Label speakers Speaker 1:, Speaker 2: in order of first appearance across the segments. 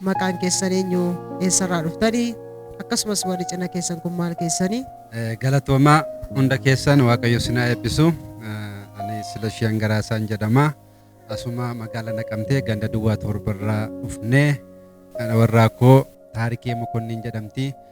Speaker 1: Maqaan keessan eenyu? Eessarraa dhuftani? Akkasumas warri cina keessan kun maal keessani? Galatoomaa
Speaker 2: hunda keessan Waaqayyo isin haa eebbisu. Ani Silashii Hangaraasaan jedhama. Asuma magaala naqamtee ganda duwwaa torbarraa dhufnee warraa koo Taarikee Mokonniin jedhamti.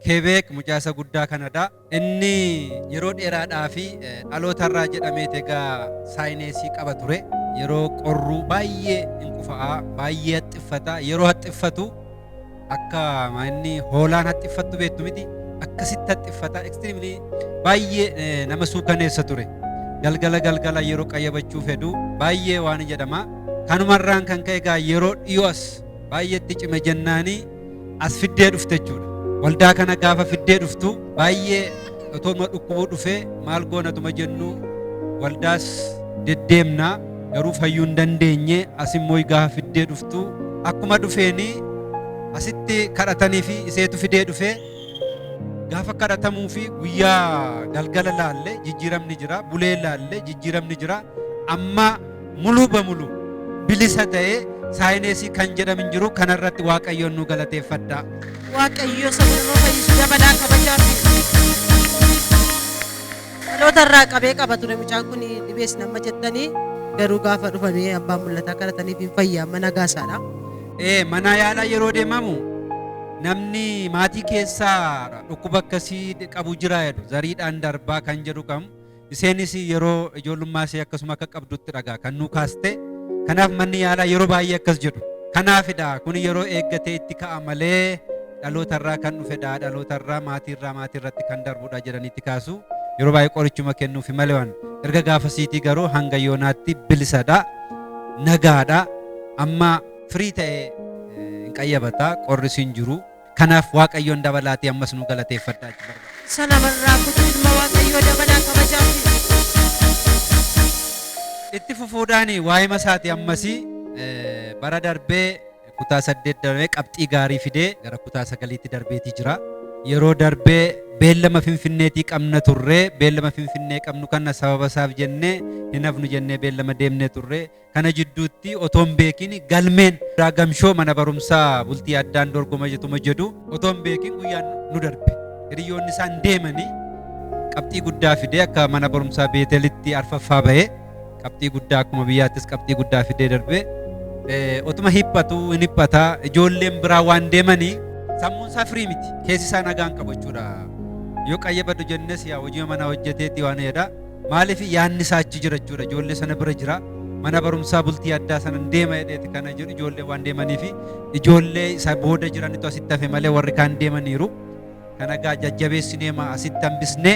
Speaker 2: Keebeek mucaa isa guddaa Kanadaa inni yeroo dheeraadhaaf dhalootarraa jedhameet egaa saayineesii qaba ture. Yeroo qorru baay'ee in qufa'a, baay'ee haxxiffata. Yeroo haxxiffatu akka inni hoolaan haxxiffattu beektu miti akkasitti haxxiffata. Extremely baay'ee eh, nama suukaneessa ture. Galgala galgala yeroo qayyabachuu fedhu baay'ee waan jedhama. Kanumarraan kan ka'e egaa yeroo dhiyoo as baay'eetti cime jennaanii as fiddee dhufte jechuudha. Waldaa kana gaafa fiddee dhuftu baay'ee otoma dhukkubuu dhufee maal goonatuma jennu waldaas deddeemna garuu fayyuu hin dandeenye as immoo gaafa fiddee dhuftu akkuma dhufeeni asitti kadhatanii fi iseetu fidee dhufee gaafa kadhatamuu fi guyyaa galgala laalle jijjiiramni jira bulee laalle jijjiiramni jira amma Muluu bamulu bilisa ta'e saayineesii kan jedham hin jiru kana irratti waaqayyoon nu galateeffadhaa. Waaqayyo
Speaker 1: saba nama fayyisu dabalaa kabajaa fi dhaloota irraa qabee qaba ture mucaan kun dhibees nama jettanii garuu gaafa dhufanii abbaan mul'ataa kadhataniif hin fayyaa mana gaasaadha. Ee mana
Speaker 2: yaalaa yeroo deemamu namni maatii keessaa dhukkuba akkasii qabu jira jedhu zariidhaan darbaa kan jedhu qabu Isheenis yeroo ijoollummaa ishee akkasuma akka qabdutti dhagaa kan nuu kaaste. Kanaaf manni yaalaa yeroo baay'ee akkas jedhu. Kanaafidha kun yeroo eeggatee itti ka'a malee dhaloota irraa kan dhufedha dhaloota irraa maatii irraa maatii irratti kan darbudha jedhanii itti kaasu. Yeroo baay'ee qorichuma kennuufi malee waan erga gaafasiitii garuu hanga yoonaatti bilisadha nagaadha amma firii ta'e hin qayyabata qorris hin jiru. Kanaaf Waaqayyoon dabalaatii ammas nu galateeffadhaa jechuu barbaada. Isa namarraa
Speaker 1: kutuu ilma Waaqayyoo dabalaa kabajaa fi
Speaker 2: Itti fufuudhaan waa'ee masaati ammasii eh, bara darbee kutaa saddeet darbee qabxii gaarii fidee gara kutaa sagaliitti darbeetii jira. Yeroo darbee beellama finfinneetii qabna turree beellama finfinnee qabnu kana sababa isaaf jennee hin hafnu jennee beellama deemnee turree Kana jidduutti otoo hin beekin galmeen gamshoo mana barumsaa bultii addaan dorgoma jetuma jedhu otoo hin beekin guyyaan nu darbe. Hiriyoonni isaan deemanii qabxii guddaa fidee akka mana barumsaa beetelitti arfaffaa bahee qabxii guddaa akkuma biyyaattis qabxii guddaa fidee darbee otuma hiphatu hin hiphataa ijoolleen biraa waan deemanii sammuun isaa firii miti keessi isaa nagaan qabachuudha. Yoo qayyabadhu jennes yaa hojii manaa hojjeteetti waan jedhaa. Maaliif yaanni isaa achi jira jechuudha. Ijoollee sana bira jira. Mana barumsaa bultii addaa sana hin deema jedheeti kana jedhu ijoollee waan deemanii fi ijoollee isa booda jiranitu asitti hafe malee warri kaan deemaniiru. Kana egaa jajjabeessinee ma asitti hambisnee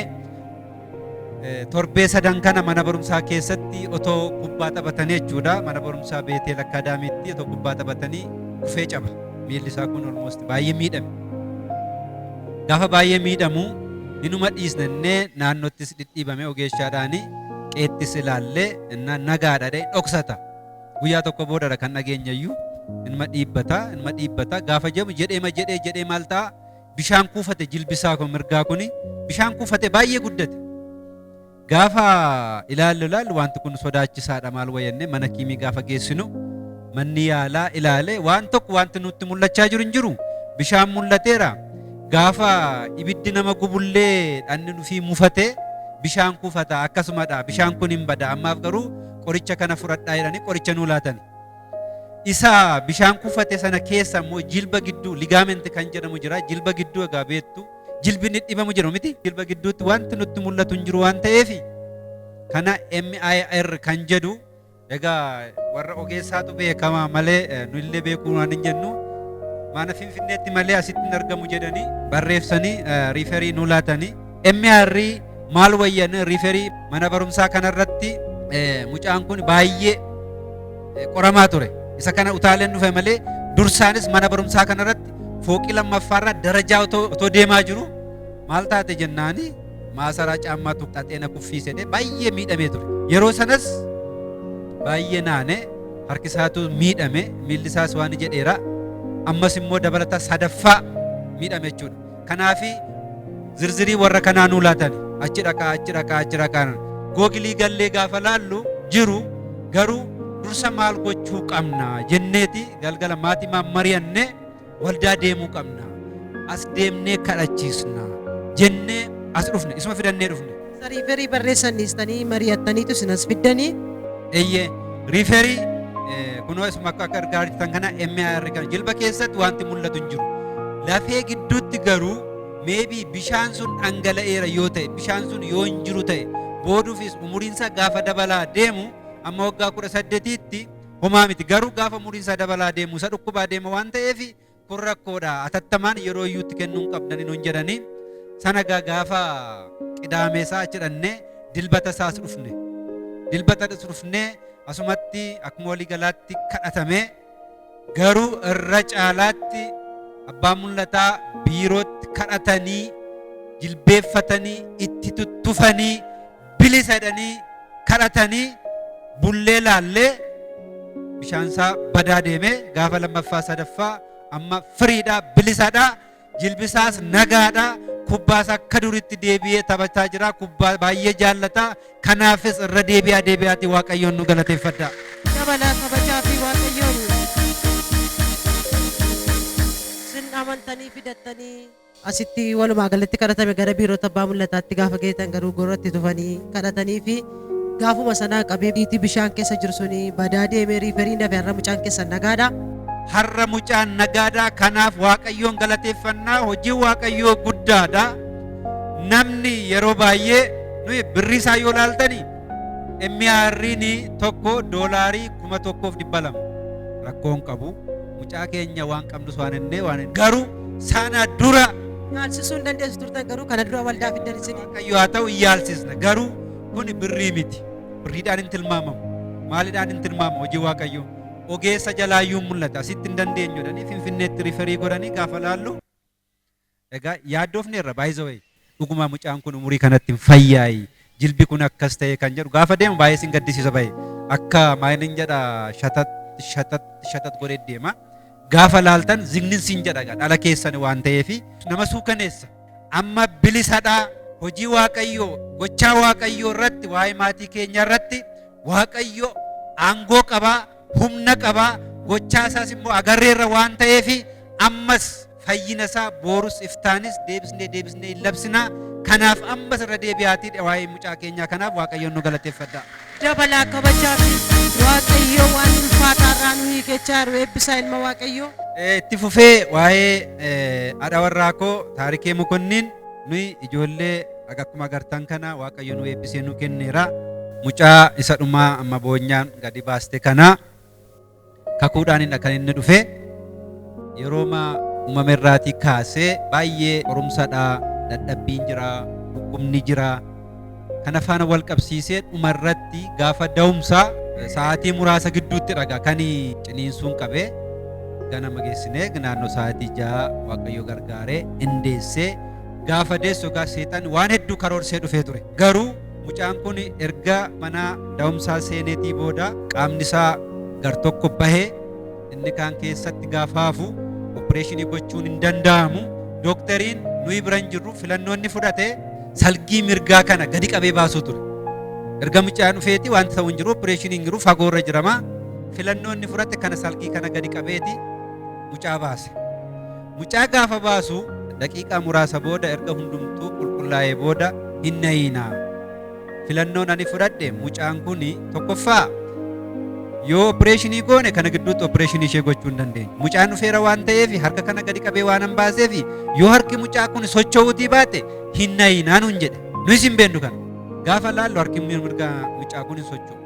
Speaker 2: eh, torbee sadan kana mana barumsaa keessatti otoo kubbaa taphatanii jechuudha. Mana barumsaa Beeteel Akkaadaamiitti otoo kubbaa taphatanii kufee caba. Miilli isaa kun olmoosti baay'ee miidhame. Gaafa baay'ee miidhamu inuma dhiisna innee naannottis dhidhiibame ogeeshaadhaani qeettis ilaalle inna nagaadha dhee dhoksata. Guyyaa tokko boodadha kan dhageenyayyuu inuma dhiibbata inuma dhiibbata gaafa jedhamu jedheema jedhee jedhee maal ta'a bishaan kuufate jilbisaa koo mirgaa kuni bishaan kuufate baay'ee guddate. Gaafa ilaallu ilaallu wanti kun sodaachisaadha maal wayyannee mana kiimii gaafa geessinu manni yaalaa ilaale waan tokko wanti nutti mul'achaa jiru hin jiru bishaan mul'ateera gaafa ibiddi nama gubullee dhanni dhufii mufatee bishaan kuufata akkasumadha bishaan kun hin bada ammaaf garuu qoricha kana fudhadhaa jedhanii qoricha nuu laatan isa bishaan kuufate sana keessa immoo jilba gidduu ligaamenti kan jedhamu jira jilba gidduu egaa beektu Jilbi inni dhibamu jiru miti. Jilba gidduutti wanti nutti mul'atu hin jiru waan ta'eef kana MIR kan jedhu egaa warra ogeessaatu beekama malee eh, nu illee beekuu waan hin jennu mana finfinneetti malee asitti hin argamu jedhanii barreessanii eh, riiferii nu laatanii MIR maal wayyan riiferii mana barumsaa kanarratti eh, mucaan kun baay'ee qoramaa ture. Isa kana utaaleen dhufe malee dursaanis mana barumsaa kanarratti fooqii lammaffaarraa darajaa otoo deemaa jiru maal taate jennaani maasaraa caammaa tuqxaxee na kuffiise jedhee baay'ee miidhamee ture. Yeroo sanas baay'ee naane harki isaatu miidhame miilli isaas waan jedheera ammas immoo dabalataa sadaffaa miidhame jechuudha. Kanaafi zirzirii warra kanaa nuu laatan achi dhaqaa achi dhaqaa achi dhaqaa googilii gallee gaafa laallu jiru garuu dursa maal gochuu qabna jenneeti galgala maatimaan mari'annee waldaa deemuu qabna as deemnee kadhachiisna jennee as dhufne isuma fidannee dhufne Isa riiferii barreessan
Speaker 1: dhiistanii mari'attaniitu isin as fiddanii. Eeyyee
Speaker 2: riiferii eh, kunoo isuma akka akka argaa jirtan kana MIR kana jilba keessatti wanti mul'atu hin jiru. Lafee gidduutti garuu meebii bishaan sun dhangala'eera yoo ta'e bishaan sun yoo hin jiru ta'e booduufis umuriinsaa gaafa dabalaa deemu amma waggaa kudha saddeetiitti homaa miti garuu gaafa umuriinsaa dabalaa deemu isa dhukkubaa deema waan ta'eef kun rakkoodha atattamaan yeroo iyyuutti kennuu hin qabdani nun jedhanii sana gaa gaafa qidaamee isaa achi dhannee dilbata isaas dhufne dilbata dhus dhufnee asumatti akkuma walii galaatti kadhatamee garuu irra caalaatti abbaa mul'ataa biirootti kadhatanii jilbeeffatanii itti tuttufanii bilisa jedhanii kadhatanii bullee laallee bishaan isaa badaa deemee gaafa lammaffaa sadaffaa amma firiidhaa bilisadhaa jilbisaas nagaadhaa kubbaas akka duritti deebi'ee taphachaa jira kubbaa baay'ee jaallataa kanaafis irra deebi'aa deebi'aati waaqayyoon nu galateeffadha. dabalaa kabajaa
Speaker 1: fi waaqayyoon sin amantanii fidattanii Asitti walumaa galatti kadhatame gara biirota abbaa mul'ataatti gaafa geetan garuu gorratti tufanii kadhatanii fi gaafuma sanaa qabee biitii bishaan keessa jiru suni badaa deemee riiferiin dafe har'a mucaan keessan nagaadha. Har'a
Speaker 2: mucaan nagaadha kanaaf waaqayyoon galateeffannaa hojiin waaqayyoo guddaadha. Namni yeroo baay'ee nuyi birrii isaa yoo laaltani MR'n tokko doolaarii kuma tokkoof dhibba lama rakkoon qabu. Mucaa keenya waan qabnus waan hennee waan hin garuu sana dura Yaalsisuu hin
Speaker 1: dandeessu turtan garuu kana dura waldaa fiddan isin. waaqayyo haa ta'u hin yaalsisna
Speaker 2: garuu kun birrii miti birriidhaan hin tilmaamamu maalidhaan hin tilmaamamu hojii waaqayyo ogeessa jalaayyuu mul'ata asitti hin dandeenyudhanii finfinneetti riferii godhanii gaafa laallu Egaa yaaddoofneerra by the way dhugumaa mucaan kun umurii kanatti hin fayyaayi jilbi kun akkas ta'e kan jedhu gaafa deemu baay'ee sin gaddisiisa bahe akka maalin jedha shatat shatat shatat godhee deema gaafa laaltan zignin sin jedha egaa dhala keessan waan ta'eefi nama suukaneessa amma bilisadhaa hojii waaqayyoo gochaa waaqayyoo irratti waa'ee maatii keenya irratti waaqayyo aangoo qabaa humna qaba gochaa isaas immoo agarreerra waan ta'eef ammas fayyina isaa boorus iftaanis deebisnee deebisnee hin labsinaa kanaaf ammas irra deebi'aatii waa'ee mucaa keenyaa kanaaf waaqayyoon nu galateeffadha. dabalaa
Speaker 1: kabajaa fi waaqayyoo waan ulfaataa irraa nu hiikechaa jiru eebbisaa ilma waaqayyoo. Eh, itti fufee
Speaker 2: waa'ee eh, haadha warraa koo taarikee mokonniin nuyi ijoollee Aga akkuma agartan kana Waaqayyo nu eebbisee nu kenneera. Mucaa isa dhumaa amma boonyaan gadi baaste kana kakuudhaanidha kan inni dhufe. Yerooma uumame irraatii kaasee baay'ee qorumsadha, dadhabbiin jira, dhukkubni jira. Kana faana wal qabsiisee dhuma irratti gaafa da'umsaa sa'aatii muraasa gidduutti dhaga kan ciniinsuun qabee ganama geessinee naannoo sa'aatii ja'a Waaqayyo gargaaree indeessee Gaafa deessu egaa seexanni waan hedduu karoorsee dhufee ture. Garuu mucaan kun erga mana da'umsaa seeneetii booda qaamni isaa gar tokko bahee inni kaan keessatti gaafa hafu oppireeshinii gochuun hin danda'amu. Doktariin nuyi bira hin jirru filannoo inni fudhate salgii mirgaa kana gadi qabee baasuu ture. Erga mucaan dhufeeti wanti ta'u hin jiru oppireeshinii hin jiru fagoo irra jirama. Filannoo inni fudhate kana salgii kana gadi qabeeti mucaa baase. Mucaa gaafa baasu daqiiqaa muraasa booda erga hundumtuu qulqullaa'ee booda hin na'iinaa. Filannoon ani fudhadhe mucaan kun tokkoffaa yoo opireeshinii goone kana gidduutti opireeshinii ishee gochuu hin dandeenyu. Mucaan dhufeera waan ta'eef harka kana gadi qabee waan hin baaseef yoo harki mucaa kun socho'uutii baate hin na'iinaa nuun jedhe. Nuyis hin beeknu kana. Gaafa laallu harki mirgaa mucaa kun hin socho'u.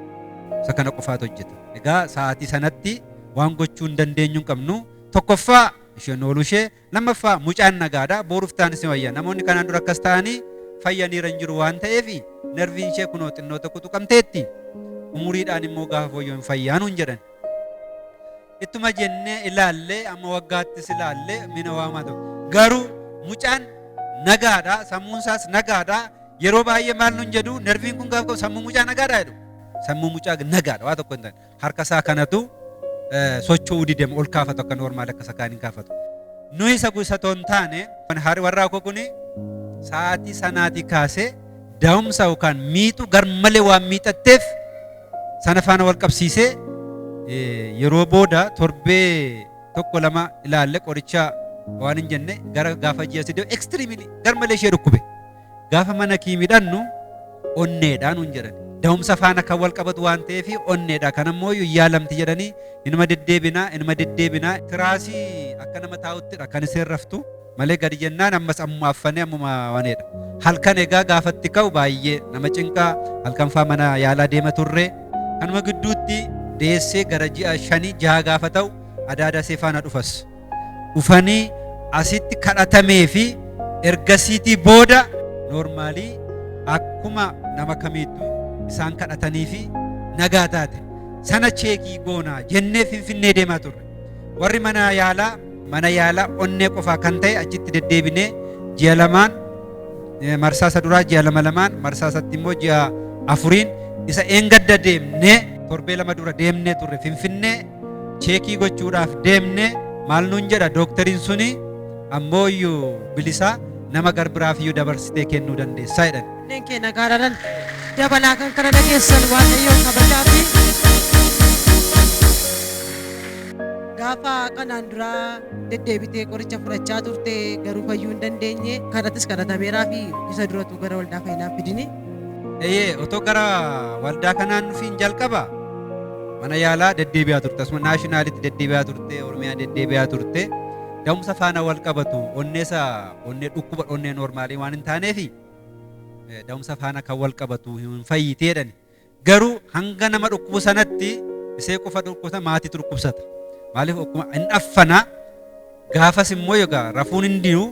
Speaker 2: Isa kana qofaatu hojjeta. Egaa sa'aatii sanatti waan gochuu hin dandeenyu hin qabnu. Tokkoffaa isheen ooluu ishee, lammaffaa mucaan nagaadha, booruuf taanis ni wayya. Namoonni kanaan dura akkas ta'anii fayyaniira hin jiru waan ta'eef nerviin ishee kunoo xinnoo tokko tuqamteetti. Umuriidhaan immoo gaafa fooyya'u hin fayyaa nuun jedhan. Ittuma jennee ilaalle amma waggaattis ilaalle mina waamaa ta'u. Garuu mucaan nagaadha, sammuun isaas nagaadha. Yeroo baay'ee maal nuun jedhu nerviin kun gaafa qabu sammuu mucaa nagaadha jedhu. Sammuu mucaa nagaadha waa tokko hin ta'in. harka isaa kanatu socho'uu didem ol kaafatu akka normaal akka isa kaaniin kaafatu. Nuyi isa isa otoo hin taane haari warraa koo kuni sa'aatii sanaatii kaasee daa'umsa yookaan miixu garmalee waan miixatteef sana faana wal qabsiisee yeroo booda torbee tokko lama ilaalle qoricha waan hin jenne gara gaafa ji'a sidee ekstiriimili garmalee ishee dhukkube. Gaafa mana kii midhannu onneedha nuun jedhan. Da'umsa faana kan wal qabatu waan ta'eef onneedha. Kan ammoo yaalamti jedhanii inuma deddeebinaa inuma deddeebinaa. Tiraasii akka nama taa'uttidha kan isheen raftu malee gadi jennaan ammas ammuma affanee ammuma waneedha. Halkan egaa gaafatti ka'u baay'ee nama cinqaa halkan faa mana yaalaa deema turre. Kanuma gidduutti deessee gara ji'a shanii jaha gaafa ta'u adaadaa seefaana dhufas. dhufanii asitti kadhatamee fi ergasiitii booda noormaalii akkuma nama kamiittu isaan kadhatanii fi nagaa taate sana cheekii goonaa jennee finfinnee deemaa turre warri mana yaalaa mana yaalaa onnee qofaa kan ta'e achitti deddeebinee ji'a lamaan eh, marsaa isa duraa ji'a lama lamaan marsaa isatti immoo ji'a afuriin isa eengadda deemnee torbee lama dura deemnee turre finfinnee cheekii gochuudhaaf deemne maal nuun jedha dooktariin suni ammoo iyyuu bilisaa nama garbiraaf iyyuu dabarsitee kennuu dandeessaa jedhan. Kanneen keenya gaaraadhaan
Speaker 1: dabalaa kan kana dhageessan waaqayyoon kabajaa fi gaafa kanaan duraa deddeebitee qoricha fudhachaa turte garuu fayyuu hin dandeenye kadhatis kadhatameeraa fi isa duratu gara waldaa fayyinaa fidini. Eeyyee otoo
Speaker 2: gara waldaa kanaan nufiin jalqaba mana yaalaa deddeebi'aa turte asuma naashinaalitti deddeebi'aa turte oromiyaa deddeebi'aa turte da'umsa faana wal qabatu onneesa onnee dhukkuba onnee noormaalii waan hin taaneefi da'umsa faana kan wal qabatu hin fayyiti jedhani Garuu hanga nama dhukkubu sanatti isee qofa dhukkubsata maatiitu dhukkubsata. Maaliif okkuma hin affana gaafas immoo yogaa rafuun hin diyu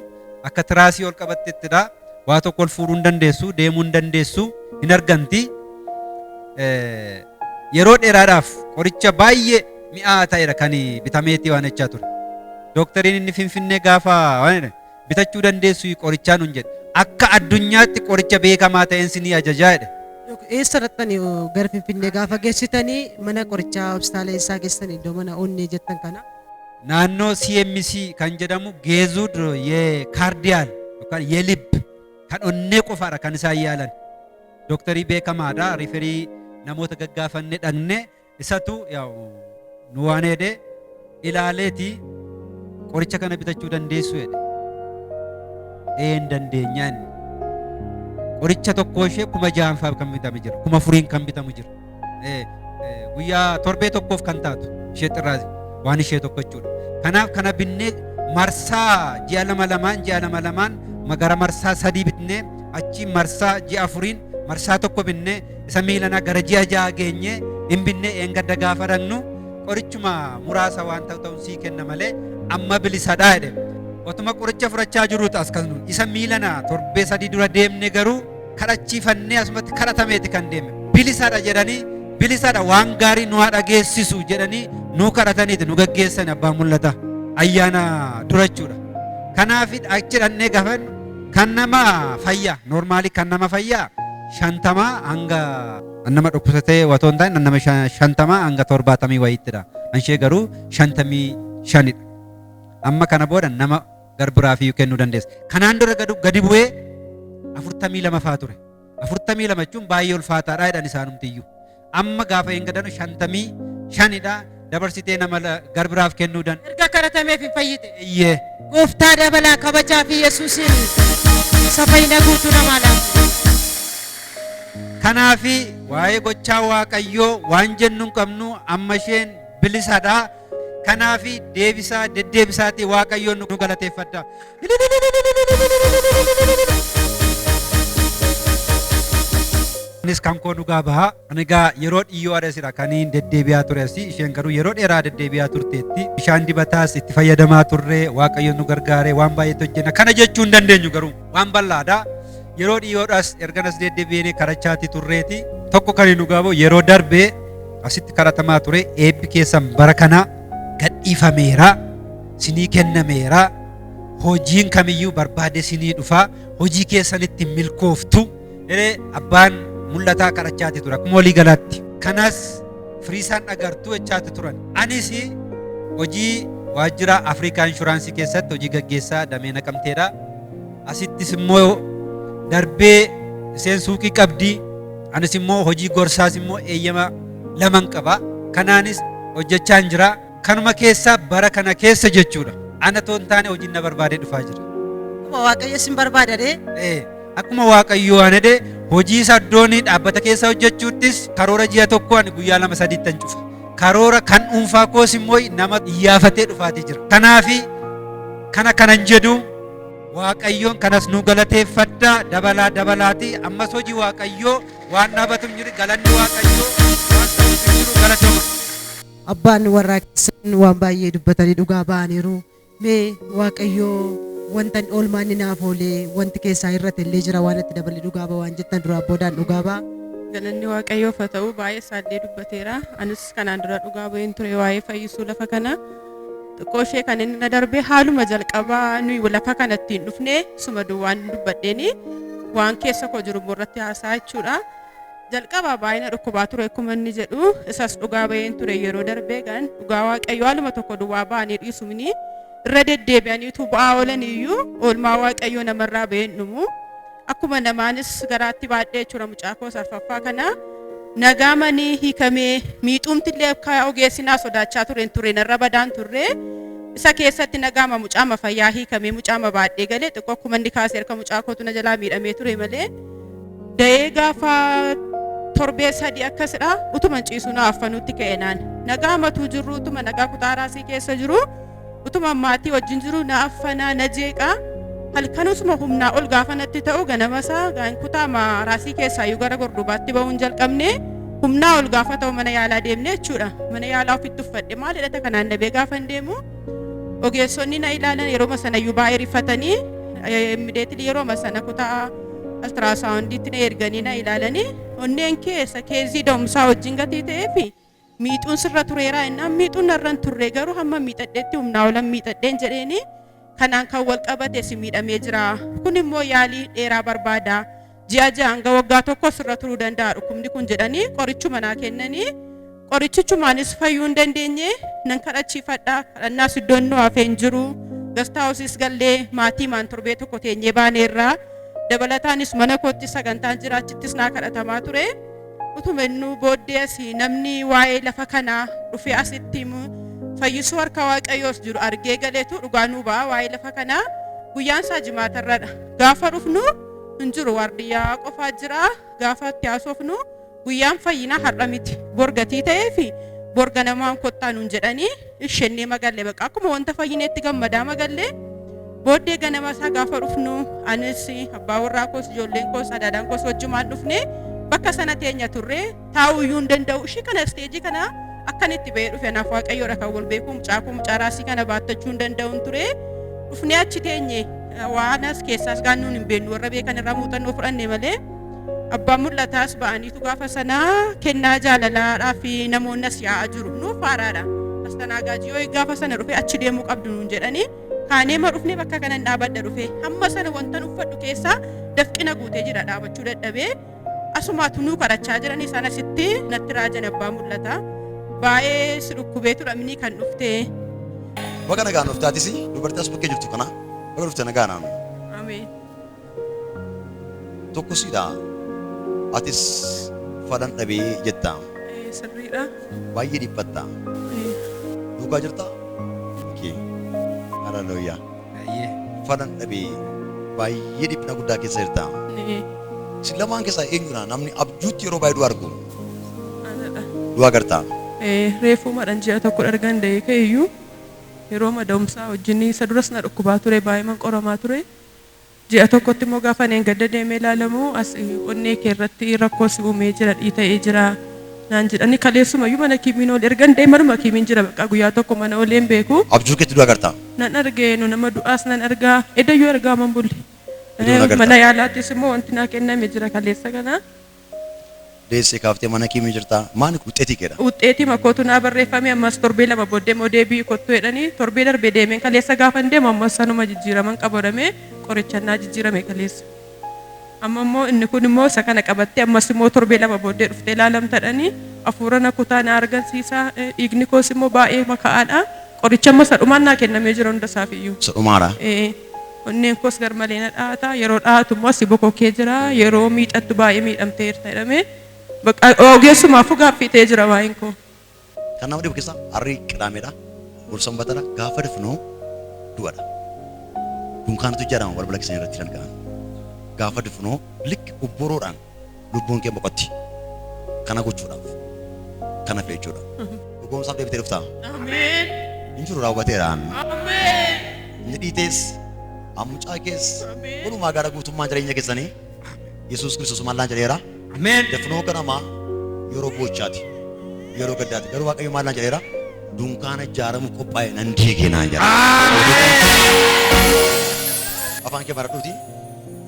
Speaker 2: akka tiraasii ol qabattettidha. Waa tokko ol fuudhuu hin dandeessu, deemuu hin dandeessu, hin arganti. Eh, Yeroo dheeraadhaaf qoricha baay'ee mi'aa ta'edha kan bitameetii waan jechaa ture. Doktariin inni finfinnee gaafa waan jedhe, bitachuu dandeessu qorichaa nun jedhe akka addunyaatti qoricha beekamaa ta'een sinii ajajaa jedhe Eessa dhaqxani
Speaker 1: gara Finfinnee gaafa geessitanii mana qorichaa hospitaala eessaa geessitanii iddoo mana onnee jettan kana? naannoo
Speaker 2: CMC kan jedhamu geezuud yee kaardiyaal yookaan yee lib kan onnee qofaadha kan isaan yaalan dooktarii beekamaadha riferii namoota gaggaafanne dhaqne Isatu yaa'u nu waan heede ilaaleeti qoricha kana bitachuu dandeessu jedhe. Een dandeenya inni. Qoricha tokkoo ishee kuma ja'an fa'aa kan bitamu jira. Kuma furiin kan bitamu jira. Eh, eh, Guyyaa torbee tokkoof kan taatu ishee xirraa waan ishee tokko jechuudha. Kanaaf kana binnee marsaa ji'a lama lamaan ji'a lama lamaan magara marsaa sadii bitnee achi marsaa ji'a afuriin marsaa tokko binnee isa miilana gara ji'a ja'a geenye hin binnee eengadda gaafa dhaqnu qorichuma muraasa waan ta'u ta'uun sii kenna malee amma bilisadhaa jedhe. Otuma qoricha fudhachaa jiruutu as kan isa miilana torbee sadii dura deemne garuu kadhachiifannee asumatti kadhatameeti kan deeme. Bilisadha jedhanii bilisadha waan gaarii nu haa dhageessisu jedhanii nu kadhataniiti nu gaggeessan abbaa mul'ata ayyaana durachuudha. Kanaaf achi dhannee gaafannu kan nama fayyaa noormaalii kan nama fayyaa shantama hanga nama dhukkubsatee watoo hin taane nama shan- shantama hanga torbaatamii wayiittidha. Kan ishee garuu shantamii shanidha. Amma kana booda nama garbiraa fi kennuu dandeessa. Kanaan dura gadu- gadi bu'ee afurtamii lama faa ture. Afurtamii lama jechuun baay'ee ulfaataadha jedhan isaanumtiyyuu. Amma gaafa hin gadanu shantamii shanidha dabarsitee nama la- garbiraaf kennuu dan. Erga kadhatameef hin fayyite.
Speaker 1: Iyyee. Gooftaa
Speaker 2: dabalaa
Speaker 1: kabajaa fi Yesuusiin isa fayyina guutuu namaa laata.
Speaker 2: Kanaafi waa'ee gochaa Waaqayyoo waan jennu hin qabnu amma isheen bilisadha. Kanaaf deebisaa deddeebisaatii Waaqayyoon nu galateeffadha. Innis kan koo dhugaa baha. Ani egaa yeroo dhiyyoo adeesira kan hin deddeebi'aa ture asii isheen garuu yeroo dheeraa deddeebi'aa turteetti. Bishaan dibataas itti fayyadamaa turre Waaqayyoon nu gargaare waan baay'eetti hojjenna. Kana jechuu hin dandeenyu garuu. waan bal'aadha. Yeroo dhiyoodhaas erganas deddeebi'ee kadhachaatti turreeti. Tokko kan nu gaaboo yeroo darbe asitti kadhatamaa ture eebbi keessan bara kana gadhiifameera, sinii kennameera, hojiin kamiyyuu barbaade sinii dhufa, hojii keessanitti milkooftu. Hiree abbaan mul'ataa kadhachaati ture akkuma walii galaatti. Kanas firiisaan agartuu jechaati turan. Anis hojii waajjira Afrikaa Inshuraansii keessatti hojii gaggeessaa damee naqamteedha. Asittis immoo darbee isheen suuqii qabdi. Anis immoo hojii gorsaas immoo eeyyama laman qaba. Kanaanis hojjechaan jira. Kanuma keessaa bara kana keessa jechuudha. Ana otoo hin taane hojiin na barbaadee dhufaa jira. Akkuma Waaqayyo
Speaker 1: sin barbaada dee. Ee, Akkuma
Speaker 2: Waaqayyo waan jedhe hojii isaa iddoon dhaabbata keessa hojjechuuttis karoora ji'a tokko ani guyyaa lama sadiittan cufa. Karoora kan dhuunfaa koos immoo nama iyyaafatee dhufaatii jira. Kanaafi kana kanan jedhu Waaqayyoon kanas nu galateeffadha dabalaa dabalaati ammas hojii Waaqayyoo waan dhaabatu hin jiru galanni Waaqayyoo waan ta'uuf hin jiru galatoomaa. Abbaan
Speaker 1: warraa keessan waan baay'ee dubbatanii dhugaa ba'aniiru. Mee Waaqayyoo wantan oolmaa inni naaf oolee wanti keessaa hir'ate illee jira waan itti dabalee dhugaa ba'a waan jettan duraa boodaan dhugaa ba'a. Galanni Waaqayyoof
Speaker 3: haa ta'u baay'ee isaallee dubbateera. Anis kanaan dura dhugaa ba'een ture waa'ee fayyisuu lafa kana. Xiqqoo ishee kan inni na darbee haaluma jalqabaa nuyi lafa kana ittiin dhufne suma duwwaan dubbadheeni waan keessa koo jiru immoo irratti haasaa jechuudha. Jalqaba baay'ina dhukkubaa ture akkuma inni jedhu isas dhugaa ba'een ture yeroo darbee gan dhugaa waaqayyo haaluma tokko duwwaa ba'anii dhiisumni irra deddeebi'aniitu bu'aa oolan iyyuu oolmaa waaqayyo namarraa ba'een dhumu akkuma namaanis garaatti baadhee jechuudha mucaa koos arfaffaa kana nagaa manii hiikamee miixuumti illee akka ogeessinaa sodaachaa ture hin ture narra badaan turre isa keessatti nagaama mucaama fayyaa hiikamee mucaama baadhee galee xiqqoo akkuma inni kaasee harka mucaa kootu na jalaa miidhamee ture malee Da'ee gaafa torbee sadii akkasidha utuma ciisu na affanutti ka'e naan nagaa matuu jirru utuma nagaa kutaa raasii keessa jiru utuma maatii wajjin jiru na affanaa na jeeqa halkanusuma humnaa ol gaafa natti ta'u ganamasaa gaan kutaa ma raasii keessaa iyyuu gara gordubaatti ba'uun jalqabne humnaa ol gaafa ta'u mana yaalaa deemne jechuudha mana yaalaa ofitti uffadhe maal hidhata kanaan dhabee gaafa hin deemu Ogeessonni na ilaalan yeroo sanayyuu baay'ee rifatanii immideetilii yeroo sana kutaa altiraasaawundiitti na erganii na ilaalanii onneen keessa keezii da'umsaa wajjin gatii ta'ee fi miixuun sirra tureeraa innaan miixuun narra hin turre garuu hamma miixadheetti humnaa olan miixadheen jedheenii kanaan kan wal qabate si miidhamee jira kun immoo yaalii dheeraa barbaada ji'a ja'a hanga waggaa tokko sirra turuu danda'a dhukkubni kun jedhanii qorichuma naa kennanii qorichichumaanis fayyuu hin dandeenye nan kadhachiifadha kadhannaas iddoon nu hafee hin jiru gastaa hosiis gallee maatii maan torbee tokko teenyee baaneerraa dabalataanis mana kootti sagantaan jira achittis naa kadhatamaa ture utuma innuu booddee asii namni waa'ee lafa kanaa dhufee asitti himu fayyisuu harka waaqayyoos jiru argee galeetu dhugaa nuu ba'a waa'ee lafa kanaa guyyaan isaa jimaatarradha gaafa dhufnu hin jiru waardiyyaa qofaa jira gaafa itti haasofnu guyyaan fayyinaa har'a miti bor gatii ta'ee fi bor ganamaan kottaa nuun jedhanii ishennee magalle baqa akkuma wanta fayyineetti gammadaa magalle booddee ganama isaa gaafa dhufnu anis abbaa warraa koos ijoolleen koos adaadaan koos wajjumaan dhufne bakka sana teenya turre taa'uu iyyuu hin danda'u. Ishii kana isteejii kana akkan itti ba'ee dhufe anaaf waaqayyoodha kan wal beeku mucaa koo mucaa raasii kana baattachuu hin danda'u hin ture. Dhufnee achi teenye waan as keessaas gaannuun hin beeknu warra beekan irraa muuxannoo fudhanne malee abbaan mul'ataas ba'aniitu gaafa sanaa kennaa jaalalaadhaa fi namoonni as yaa'aa jiru nuuf haaraadha. Astanaagaajii yoo gaafa sana dhufe achi deemuu qabdu nuun jedhanii kaanee ma dhufnee bakka kanan dhaabadha dhufe hamma sana wantan uffadhu keessaa dafqina guutee jira dhaabachuu dadhabee Asumaa tunuu kadhachaa jiranii isaan asitti natti raajan abbaa mul'ata. Baay'ee si dhukkubee tura minii kan dhuftee. Baga
Speaker 4: nagaan dhufte atis dubartii as bukkee jirtu kana baga dhufte nagaan aanu.
Speaker 3: Ameen.
Speaker 4: Tokkosiidha atis falan dhabee jetta Eh, Sirriidha.
Speaker 3: baay'ee
Speaker 4: dhiphatta Eh, dhugaa jirta. Okay. Hallelujah.
Speaker 2: falan dhabee
Speaker 4: baay'ee dhiphina guddaa keessa jirta. Isin lamaan keessaa eenyudha namni abjuutti yeroo baay'ee du'a argu?
Speaker 3: Du'a agarta.
Speaker 4: Reefuumadhaan
Speaker 3: ji'a tokko ergan da'ee ka'e iyyuu yeroo mada'umsaa wajjin isa duras na dhukkubaa ture baay'eeman qoramaa ture. Ji'a tokkotti immoo gaafa ani engadda deemee ilaalamu as onnee kee irratti rakkoo si uumee jira dhiita'ee jira naan jedhani kaleessuma iyyuu mana kiimiin oole ergan deemee manuma kiimiin jira baqqaa guyyaa tokko mana ooleen beeku. Abjuu keetti du'a agartaa?
Speaker 4: Nan arge nu nama
Speaker 3: du'aas nan arga edayyuu argaaman bulle. Mana yaalaattis immoo wanti naa kenname jira kaleessa kana. Deesse
Speaker 4: kaaftee mana kiimi jirtaa maani kun wuxxeetii keedha. Wuxxeetima kootu naa
Speaker 3: barreeffame ammas torbee lama booddee immoo deebi'ii kottu jedhanii torbee darbe deemeen kaleessa gaafan deemu ammas sanuma jijjiiraman qaba jedhamee qorichan naa jijjiirame kaleessa. Amma immoo inni kun immoo isa kana qabattee ammas immoo torbee lama booddee dhuftee ilaalamta jedhanii afuura na kutaa na argansiisa dhiigni koos immoo baay'eema ka'aadha qoricha amma isa dhumaan naa kennamee jira hunda isaaf iyyuu. Isa dhumaadha? Ee.
Speaker 4: Onneen
Speaker 3: koos garmalee na dha'ata. Yeroo dha'atu immoo asi bokokee jira. Yeroo miidhattu baay'ee miidhamteerta jedhamee bakka ogeessumaafuu gaaffii ta'ee jira waa'een koo. Kan nama dhibu
Speaker 4: keessaa harri qidaameedha, bor sanbatadha, gaafa dafnu du'adha. Dunkaanatu ijaarama balbala keessanii irratti kan ga'an. Gaafa dufnu likki obboroodhaan lubbuun kee boqotti. Kana gochuudhaaf, kana feechuudhaaf. Dhugoomsaaf deebitee dhuftaa? Hin jiru raawwateera. Inni dhiitees, ammucaa kees, walumaa gara guutummaa jireenya keessanii Yesuus Kiristoos maallaan jedheera. Dafnoo ganamaa yeroo boochaati. Yeroo gaddaati. Garuu Waaqayyo maallaan jedheera? Dunkaana ijaaramu qophaa'e nan diigee naan jedha. Afaan kee maradhuuti.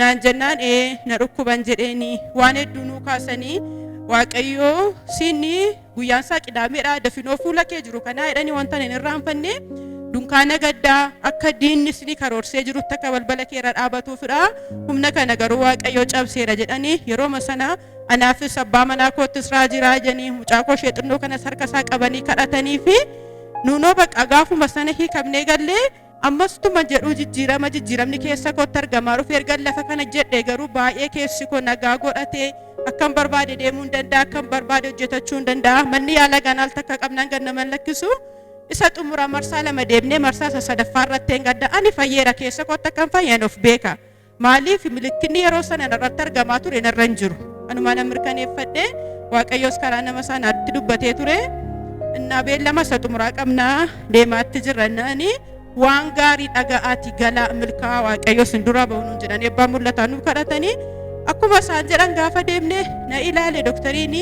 Speaker 3: naan jennaan ee na dhukkuban jedheeni waan hedduu nuu kaasanii waaqayyoo siinni guyyaan isaa qidaameedha dafinoo fuula kee jiru kanaa jedhanii wanta hin irraanfanne dunkaana gaddaa akka diinni isinii karoorsee jirutti akka balbala kee irra dhaabatuufidha humna kana garuu waaqayyoo cabseera jedhanii yerooma sana anaafis abbaa manaa koottis raajiraa jedhanii mucaa koo ishee xinnoo kanas harka isaa qabanii kadhatanii fi nuunoo bakka gaafuma sana hiikamnee gallee Ammas tuma jedhuu jijjiirama jijjiiramni keessa kootti argamaa dhufe ergan lafa kana jedhe garuu baay'ee keessi koo nagaa godhatee akkan barbaade deemuu hin danda'a akkan barbaade hojjetachuu hin danda'a manni yaala ganaal takka qabnaan gad nama hin lakkisu isa xumura marsaa lama deemnee marsaa isa sadaffaa irratti hin gadda ani fayyeera keessa kootti akkan fayyan of beeka. Maaliif milikkinni yeroo sana narratti argamaa ture narra hin jiru. Anumaa nan mirkaneeffadhe Waaqayyoos karaa nama sanaatti dubbatee ture. Innaa beellama isa xumuraa qabnaa deemaatti jirra innaan waan gaarii dhaga'aati galaa milkaa'aa Waaqayyo isin duraa ba'u nuun jedhan eebbaa mul'ataa nuuf kadhatanii akkuma isaan jedhan gaafa deemne na ilaale doktariin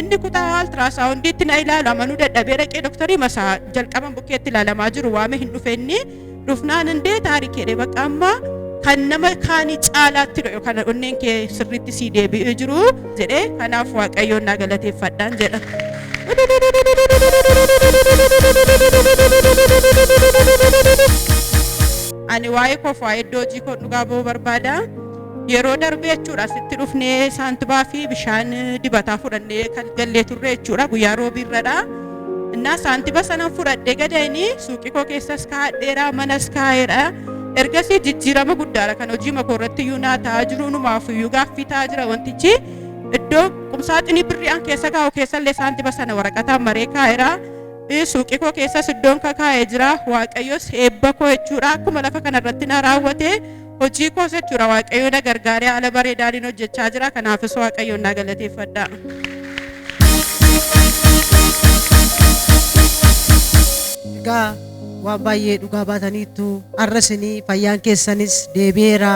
Speaker 3: inni kutaa altiraasaawundiitti na ilaalu amanuu dadhabee dhaqee doktarii masaa jalqaban bukkeetti ilaalamaa jiru waame hin dhufenni dhufnaan hundee taarikeedha bakka amma kan nama kaanii caalaatti dha yookaan onneen kee sirriitti sii deebi'ee jiru jedhee kanaaf waaqayyoon naa galateeffadhaan jedha. Ani waa'ee koof waa'ee iddoo hojii koo dhugaa ba'uu barbaada. Yeroo darbee jechuudha asitti dhufnee saantibaa fi bishaan dibataa fudhannee kan gallee turre jechuudha guyyaa roobii irradha. Innaa saantiba sanan fudhadhee gadayni suuqii koo keessas kaa'adheera manas kaa'eera. Ergasii jijjiirama guddaadha kan hojii makoo irratti iyyuu naa ta'aa jiru unumaaf iyyuu gaaffii ta'aa jira wantichi iddoo qumsaaxinii birrii an keessa kaa'u keessallee saantiba sana waraqataan maree kaa'eera. Suuqii koo keessas iddoon kakaa'ee jira waaqayyos eebba koo jechuudha akkuma lafa kanarratti na raawwate Hojii koos jechuudha waaqayyo na gargaaree haala bareedaaniin hojjechaa jira kanaafis waaqayyoon na galateeffadha.
Speaker 1: Egaa waan baay'ee dhugaa baataniittu har'a isinii fayyaan keessanis deebi'eera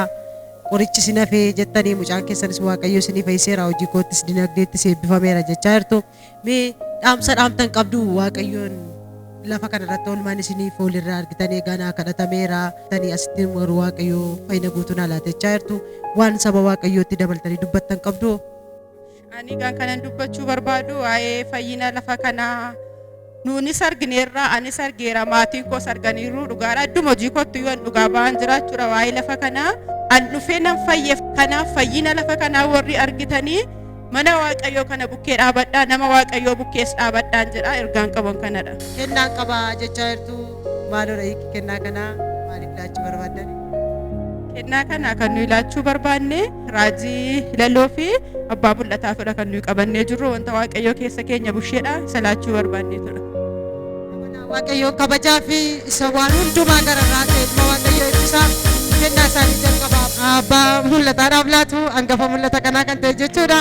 Speaker 1: qorichi isin hafee jettanii mucaan keessanis waaqayyo isinii fayyiseera hojii koottis dinagdeettis eebbifameera jechaa jirtu. Mee dhaamsa dhaamtan qabdu waaqayyoon lafa kana irratti oolmaan isinii fool irraa argitanii egaa naa kadhatameera tanii asitti warri waaqayyoo fayyina guutuu naa laatechaa jirtu waan saba waaqayyootti dabaltanii dubbattan qabdu. Ani
Speaker 3: egaa kanan dubbachuu barbaadu waa'ee fayyina lafa kanaa Nuunis argineerra, anis argeera, maatiin koos arganiiru. Dhugaadha. Idduma hojii kootti yoo an dhugaa ba'aan jiraachuudha waa'ee lafa kanaa. An dhufee nan fayyeef kanaaf fayyina lafa kanaa warri argitanii mana Waaqayyoo kana bukkee dhaabadhaa, nama Waaqayyoo bukkees dhaabadhaan jedha. Ergaan qaban kanadha. Kennaan qaba
Speaker 1: jechaa jirtu. Maaloodha hiikki kennaa kanaa maaliif laachuu barbaaddani? Kennaa
Speaker 3: kana kan nuyi laachuu barbaanne raajii hilaloo fi abbaa mul'ataafidha kan nuyi qabannee jirru wanta waaqayyoo keessa keenya busheedha isa laachuu barbaanneetudha. Amanaa
Speaker 1: Waaqayyoo kabajaa fi isa waan hundumaa gararraa ta'e ilma Waaqayyoo ibsaa kennaa isaanii jalqabaa abbaa mul'ataadhaaf laatu hangafa mul'ata kanaa kan ta'e jechuudha.